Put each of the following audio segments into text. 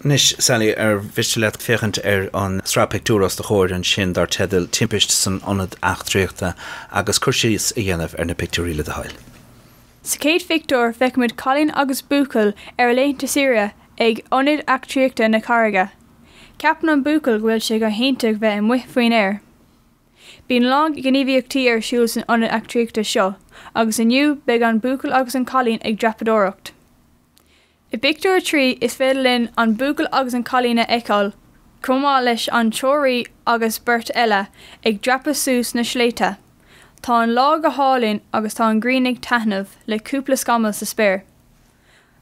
Anois, Sally, ar mhiste leat féachaint ar an sraith pictiúr os do chomhair ansin dar teideal 'Timpist san Ionad Eachtraíochta' agus cur síos a dhéanamh ar na pictiúirí le do thoil. Sa chéad phictiúr, feicimid cailín agus buachaill ar a laethanta saoire ag Ionad Eachtraíochta na Carraige. Ceapann an buachaill go bhfuil sé go hiontach bheith amuigh faoin aer. Bíonn a lán gníomhaíochtaí ar siúl san ionad eachtraíochta seo agus inniu beidh an buachaill agus an cailín ag dreapadóireacht. I bpictiúr a trí, is féidir linn an buachaill agus an cailín a fheiceáil, chomh maith leis an treoraí agus beirt eile, ag dreapadh suas na sléibhte. Tá an lá go hálainn agus tá an ghrian ag taitneamh le cúpla scamall sa spéir.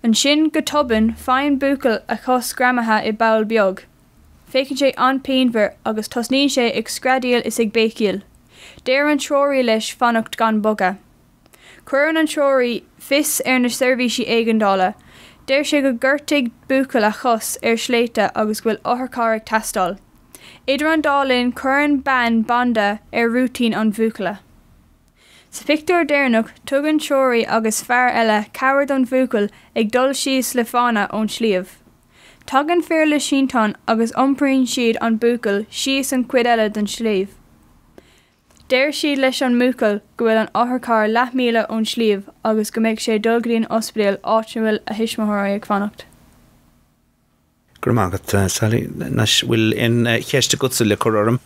Ansin, go tobann, faigheann an buachaill a chos greamaithe i bpoll beag. Féachann sé an-pianmhar agus tosnaíonn sé ag screadaíl is ag béicíl. Deir an treoraí leis fanacht gan bogadh. Cuireann an treoraí fios ar na seirbhísí éigeandála, deir sé go ngortaigh buachaill a chos ar shléibhte agus go bhfuil otharcharr ag teastáil. Idir an dá linn cuireann bean banda ar rúitín an bhuachalla. Sa phictiúr deireanach tugann an treoraí agus fear eile cabhair don bhuachaill ag dul síos le fána ón sliabh. Tagann fir le sínteán agus iompraíonn siad an buachaill síos an chuid eile den sliabh. Deir siad leis an mbuachaill go bhfuil an otharcharr leath míle ón sliabh agus go mbeidh sé ag dul go dtí an ospidéal áit ina bhfuil a thuismitheoirí ag fanacht. Go raibh maith agat, Sally. Anois, bhfuil aon cheist agatsa le cur orm?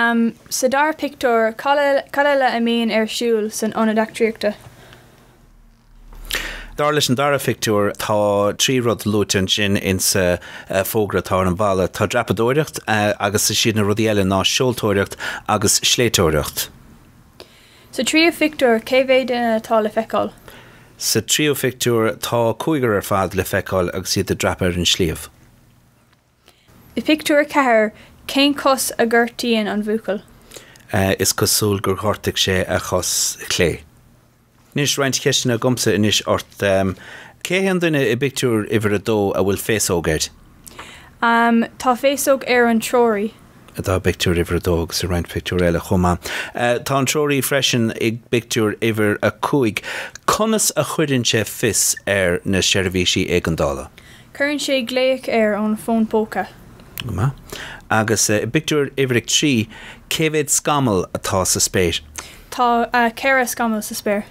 Am, Sa dara pictiúr, cad eile a bhíonn ar siúl san Ionad Eachtraíochta? Dar leis an dara phictiúr, tá trí rud luaite ansin insa bhfógra atá ar an bhalla. Tá dreapadóireacht agus is iad na rudaí eile ná seoltóireacht agus sléibhteoireacht. Sa tríú phictiúr, cé mhéad duine atá le feiceáil? Sa tríú phictiúr, tá cúigear ar fad le feiceáil agus iad ag dreapadh ar an sliabh. I bpictiúr a ceathair, cén cos a ghortaíonn an bhuachaill? Is cosúil gur ghortaigh sé a chos chlé. Anois roinnt ceisteanna agamsa anois ort. Cé hé an duine i bpictiúr uimhir a dó a bhfuil féasóg air? Tá féasóg ar an treoraí. Tá, i bpictiúr uimhir a dó agus i roinnt pictiúr eile chomh maith. Tá an treoraí freisin i bpictiúr uimhir a cúig. Conas a chuireann sé fios ar na seirbhísí éigeandála? Cuireann sé glaoch ar an bhfón póca. Go maith. Agus i bpictiúr uimhir a trí, cé mhéad scamall atá sa spéir? Tá ceithre scamall sa spéir.